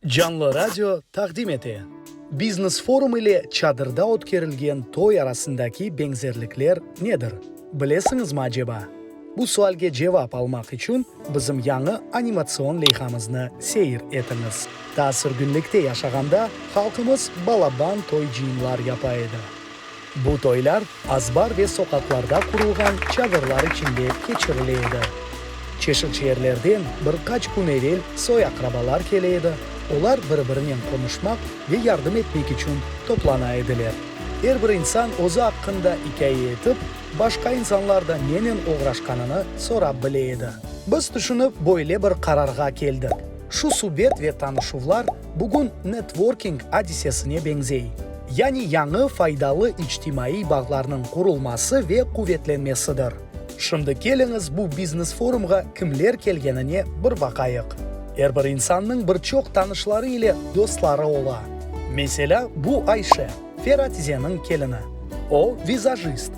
Canlı radio taqdim ete. Biznes forum ile çadırda ötkerilgen toy arasındaki beñzerlikler nedir, bilesiñizmi aceba? Bu sualge cevap almaq içün bizim yañı animatsion leyhamıznı seyir etiñiz. Ta sürgünlikte yaşağanda halqımız balaban toy-cıyımlar yapa edi. Bu toylar azbar ve soqaqlarda qurulğan çadırlar içinde keçirile edi. Çeşit yerlerden bir qaç kün evel soy-aqrabalar kele edi, olar bir-birinen qonuşmaq ve yardım etmek içün toplana ediler. Er bir insan özü aqqında ikâye etip, başqa insanlar da nenen oğraşqanını sorap bile edi. Biz tüşünip, böyle bir qararğa keldik, şu subet ve tanışuvlar, Bugün networking adisesine beñzey, yani yañı faydalı içtimaiy bağlarnıñ qurulması ve quvetlenmesidir. Şimdi keliñiz bu biznes forumğa kimler kelgenine bir baqayıq. Er bir insannıñ bir çoq tanışları ile dostları ola. Meselâ, bu Ayşe. Feratizeniñ kelini. O, vizajist.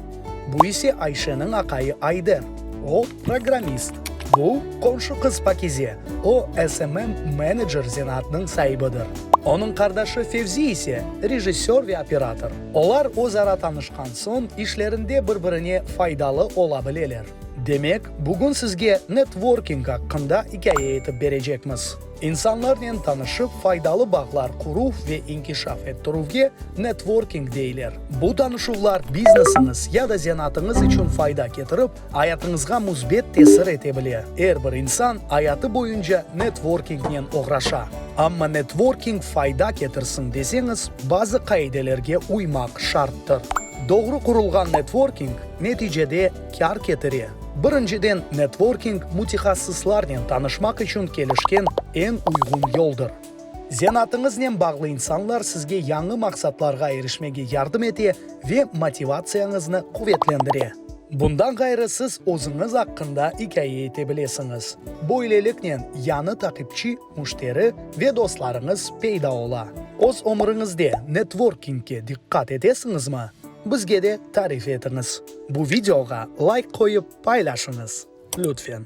Bu ise Ayşeniñ aqayı Ayder. O, programmist. Bu, qomşu qız Pakize. O, SMM menecer zenaatnıñ saibidir. Onıñ qardaşı Fevzi ise, rejissör ve operator. Olar özara tanışqan soñ, işlerinde bir-birine faydalı ola bileler. Demek, bugün sizge networking aqqında ikâye etip berecekmiz. İnsanlarnen tanışıp, faydalı bağlar quruv ve inkişaf ettirüvge networking deyler. Bu tanışuvlar biznesiñiz ya da zenatıñız içün fayda ketirip, ayatıñızğa müsbet tesir ete bile. Er bir insan ayatı boyunca networkingnen oğraşa. Amma networking fayda ketirsin deseñiz, bazı qaidelerge uymaq şarttır. Doğru qurulğan networking, neticede, kâr ketire. Birinciden, networking mütehassıslarnen tanışmaq içün kelişken eñ uyğun yoldır. Zenatıñıznen bağlı insanlar sizge yañı maqsatlarğa erişmege yardım ete ve motivatsiyañıznı quvetlendire. Bundan ğayrı siz özüñiz aqqında ikâye ete bilesiñiz. Böyleliknen, yañı taqipçi, müşteri ve dostlarıñız peyda ola. Öz ömüriñizde networkingge diqqat etesiñizmi? Bizge de tarif etiñiz. Bu videoğa layk qoyıp paylaşıñız, lütfen.